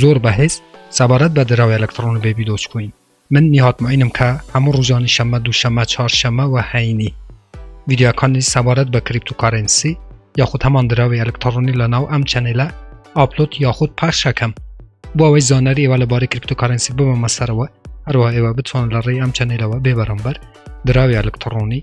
زۆر بەهێز سەبارەت بە دراوی ئەلەکتڕۆنی بەیبی دۆجکۆین من نیهاد موعینم کە هەموو ڕوژانی شەمە دوو شەمە چهار شەمە وە هەینی ڤیدیۆکانی سەبارەت بە کریپتوکارێنسی یاخود هەمان دراوی ئەلەکتڕۆنی لە ناو ئەم چەنێلە ئاپلۆت یاخود پەخشەکەم بۆ ئەوەی زانەری ئێوە لەبارەی کریپتوکارێنسی ببەمە سەرەوە هەروە ئێوە بتوان لە ڕێی ئەم چەنێلەوە بێ بەرامبەر دراوی ئەلەکتڕۆنی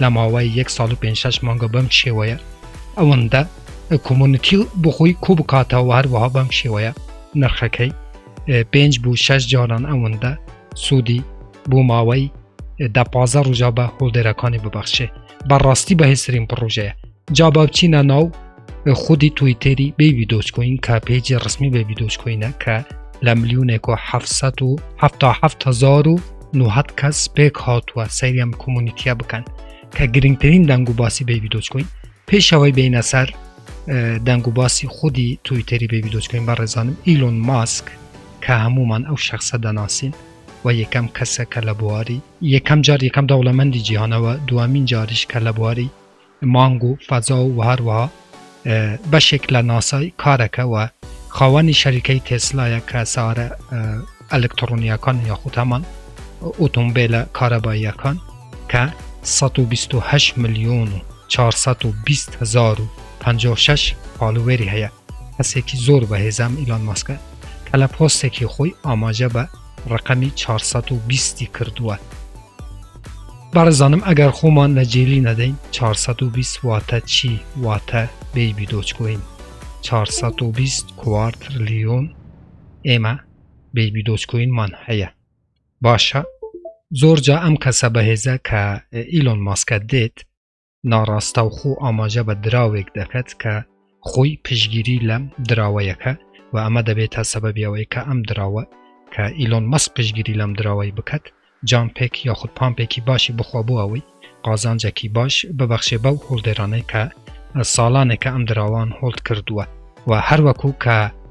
لە ماوەی یەک ساڵ و پێنج شەش مانگە بەم شێوەیە ئەوەندە کۆمونیتی بۆ خۆی کۆ بکاتەوە هەروەها بەم شێوەیە نرخەکەی پێنج بوو شەش جاران ئەوەندە سوودی بۆ ماوەی دە پازە ڕژا بە هۆڵدێرەکانی ببەخشێ بەڕاستی بەهێزترین پڕۆژەیە جا با بچینە ناو خودی تویتەری بەیبی دۆچکۆین کە پێجی ڕسمی بەبی دۆچکۆینە کە لە ملیونێکۆ 1970 کەس پێک هاتووە سەیرم کۆمونیتیا بکەن کە گرنگترین دەنگ و باسی بەبی دۆچکۆین پێشەوەی بینە سەر دەنگ و باسی خودی تویتەری بەبی دۆچکۆین بە ڕێزانم ئیلۆن ماسک کە هەمومان ئەو شخصە دەناسین و یەکەم کەسە کە لە بواری یەکەم جار یەکەم دەوڵەمەندی جیهانەوە دوامین جاریش کە لە بواری مانگ و فەزا و هەروەها بەشێک لە ناسای کارەکە و خاوەنی شەریکەی تێسلایە کە سارە ئەلکترۆنیەکان یاخود هەمان ئۆتۆمبیلە کارەباییەکان کە 128 ملیۆن و 420 هزار و 56 فالوێری هەیە کەسێکی زۆر بەهێزام ئیلۆن ماسکە کە لە پۆستێکی خۆی ئاماژە بە ڕقەمی 420 کردووە بەڕزانم ئەگەر خۆمان لە جێلی نەدەین 420 واتە چی واتە بێبی دۆچکۆین 420 کوارتر لیۆن ئێمە بێبی دۆچکۆینمان هەیە باشە زۆر جا ئەم کەسە بەهێزە کە ئیلۆن ماسکە دێت ناڕاستەوخۆ ئاماژە بە دراوێک دەکات کە خۆی پشگیری لەم دراوەیەکە و ئەمە دەبێت تا سەبەبی ئەوەی کە ئەم دراوە کە ئیلۆن مەس پشگیری لەم دراوەی بکات جامپێک یاخود پامپێکی باشی بخوا بۆ ئەوەی قازانجێکی باش ببەخشێ بەو هۆڵدێرانەی کە ساڵانێکە ئەم دراوان هۆڵد کردووە و هەروەکو کە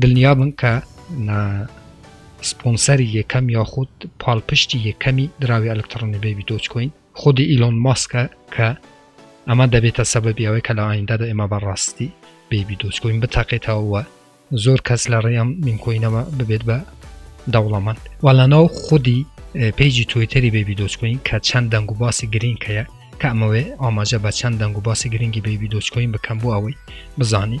دڵنیابن کە نە سپۆنسەری یەکەم یاخود پاڵپشتی یەکەمی دراوی ئەلکتڕۆنی بەیبی دۆج کۆین خودی ئیلۆن ماسکە کە ئەمە دەبێتە سەبەبی ئەوەی کە لە ئایندادا ئێمە بە ڕاستی بەیبی دۆج کۆین بتەقێتەوە زۆر کەس لە ڕێ ئەم مینکۆینەوە ببێت بە دەوڵەمەند وەڵانەوە خودی پێیجی تویتەری بەیبی دۆج کۆین کە چەند دەنگ و باسی گرین کەیە کە ئەمەوێ ئاماژە بە چەند دەنگ و باسی گرنگی بەیبی دۆج کۆین بکەم بۆ ئەوەی بزانی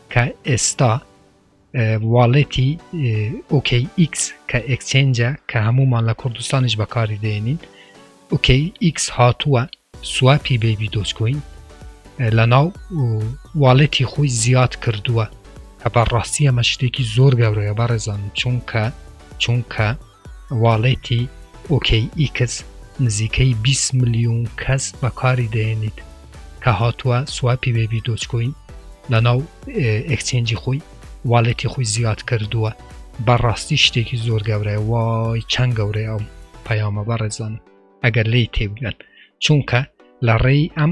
کە ئێستا واڵێتی OKX کە ئێکچێنجە کە هەموومان لە کوردستانیش بەکاری دێنین OKX هاتووە سواپی بەیبی دۆچکۆین لە ناو واڵێتی خۆی زیاد کردووە کە بەڕاستی ئەمە شتێکی زۆر گەورەیە بەڕێزان چونکە چونکە واڵێتی ئۆکەی ئیکس نزیکەی بیست ملیون کەس بەکاری دەهێنیت کە هاتووە سواپی وێبی دۆجکۆین لەناو ئێکچێنجی خۆی واڵێتی خۆی زیاد کردووە بەڕاستی شتێکی زۆر گەورەیە وای چەند گەورەیە ئەم پەیامە بەڕێزانم ئەگەر لێی تێبگەن چونکە لە ڕێی ئەم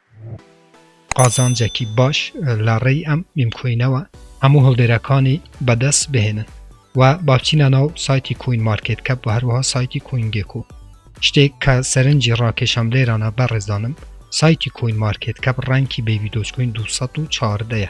قازانجەکی باش لە ڕێی ئەم میم کۆینەوە هەموو هەڵدێرەکانی بەدەست بهێنن و بابچینە ناو سایتی کۆین مارکێت کەپ و هەروەها سایتی کۆین گێکۆ شتێک کە سەرنجی ڕاکێشام لێرانە بەڕێزانم سایتی کۆین مارکێت کەپ ڕانکی بەیبی دۆج کۆین دوو سەد و چواردە یە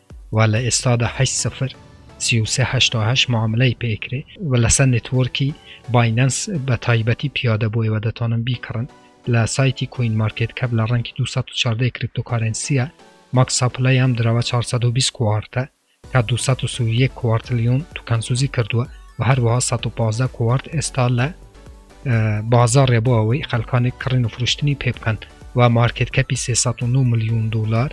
و لە ئێستادا هەشت سفر سی و سێ هەشتا و هەشت معاملەی پێ ئەکرێ و لەسەر نێتوۆرکی باینەنس بە تایبەتی پیادە بووە و دەتوانن بیکڕن لە سایتی کوین مارکێت کەپ لە ڕەنگی دوو سەد و چواردە کریپتۆکارێنسییە ماکس ساپلای ئەم دراوە چوار سەد و بیست کوارتە کە دوو سەد و سی و یەک کوارتلیۆن توکەنسوزی کردووە و هەروەها سەد و پازدە کوارت ئێستا لە بازاڕێ بۆ ئەوەی خەلکانێک کڕین و فرشتنی پێ بکەن و مارکت کەپی 309 میلیون دلار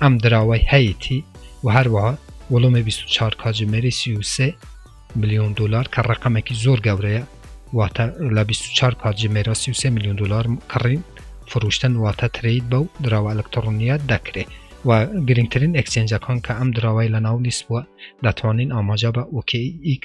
ئەم دراوای هەیەی و هەروەها وڵمی 24 کاجمێری 33 میلیۆن دلار کە ڕقەمێکی زۆر گەورەیە واتە لە 24 کاتژمێرە 33 میلیون دلار کڕین فروشتن واتە ترید بە و دراوە ئەلکترۆنیە دەکرێت و گرنگترین ئەکسنجەکان کە ئەم دراوای لە ناو لیست بووە دەتوانین ئاماجا بە OKX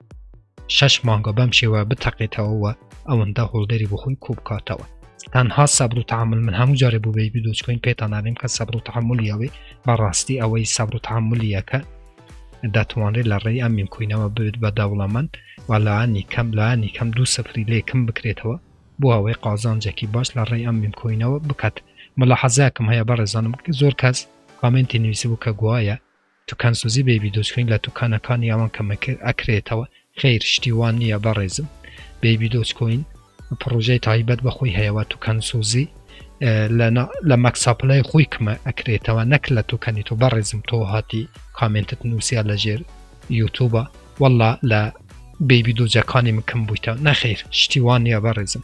شەش مانگە بەم شێوە بتەقێتەوە و ئەوەندە هۆڵدەری بۆ خۆی کۆبکاتەوە تەنها سەبر و تحمل من هەموو جارێ بوو بەی بدۆچکۆین پێتانانیم کە سەبر و تحملیەوەی بەڕاستی ئەوەی سەبر و تحملیەکە دەتوانرێت لە ڕێی ئەم میمکوینەوە بێت بە دەوڵەمەند و لایانی کەم لایانی کەم دوو سفری لێ کم بکرێتەوە بۆ ئەوەی قازانجێکی باش لە ڕێی ئەم میمکوینەوە بکات مەلا حەزاکم هەیە بەڕێزانم زۆر کەس کامنتی نووسی بوو کە گوایە توکان سوزی بەیبی دۆجکۆین لە توکانە کانی ئەوان کە مە کر ئە کرێتەوە خیر شتی وان نیە بە ڕێزم بەیبی دۆجکۆین پڕۆژەی تایبەت بە خۆی هەیە وە توکان سوزی لە مەکساپلای خۆی کمە ئە کرێتەوە نەک لە توکانی تۆ بە ڕێزم تۆ هاتی کامێنتت نووسیا لە ژێر یوتوبە وەڵا لە بەیبی دۆجەکانی مکم بوویتە نەخیر شتی وان نیە بە ڕێزم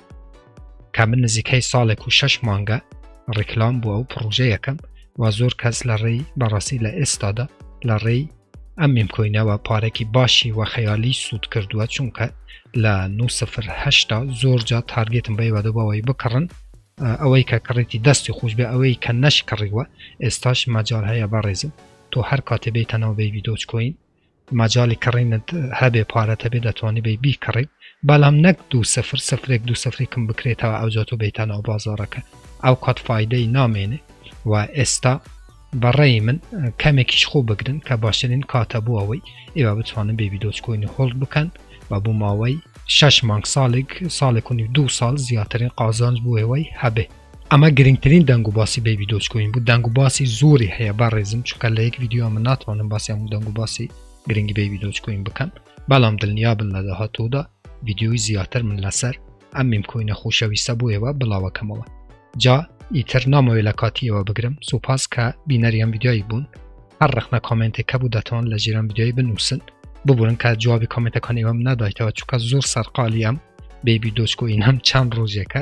کە من نزیکەی ساڵێک و شەش مانگە ڕیکلام بووە و پڕۆژەیەکەم و زۆر کەس لە ڕێی بەڕاستی لە ئێستادا لە ڕێی ئەم میمکۆینەوە پارێکی باشی و خەیالی سوود کردووە چونکە لە 9هشتا زۆر جا تارگێتم بە وادە بەوەی بکڕن ئەوەی کە کڕێتی دەستی خۆش بێ ئەوەی کە نەشکڕیوە ئێستاش مەجار هەیە بەڕێزم تۆ هەر کاتێ بێتەنەوە بەی ویدۆچکۆین مەجالی کڕینت هەبێ پارەت هەبێ دەتوانی بێی بیکڕیت بەڵام نەک دوو سفر سفرێک دوو سفری کم بکرێتەوە ئەوجا تۆ بێیتە ناو بازاڕەکە ئەو کات فایدەی نامێنێ و ئێستا بەڕێی من کەمێکیش خۆ بگرن کە باشترین کاتە بۆ ئەوەی ئێوە بتوانن بێبی دۆچکۆینی هۆڵد بکەن و بۆ ماوەی شش مانگ ساڵێک ساڵێک و دوو ساڵ زیاترین قازانج بۆ ئێوەی هەبێ ئەمە گرنگترین دەنگ و باسی بەیبی دۆج کۆین بوو دەنگ و باسی زۆری هەیە با ڕێزم چکە لە یەک یددیو ئەمە ناتوانم باسی هەموو دەنگ و باسی گرنگی بەیبی دۆج کۆین بکەن بەڵام دڵنیا بن لە داهاتۆدا یددیوی زیاتر من لەسەر ئەم میم کۆینە خۆشەویستە بۆ ئێوە بڵاوەکەمەوە جا ئیتر نامەوێ لە کاتیەوە بگرم سوپاس کە بینەریان یددیوی بوون هەر ڕخنە کامنتێک کە بوو دەتوان لە ژێران یددیوی بنووسن ببورن کە جوابی کامنتەکان ئێوەم نادایتەوە چکە زۆر سەرقالیەم بەیبی دۆچکۆین هەم چەند ڕۆژێکە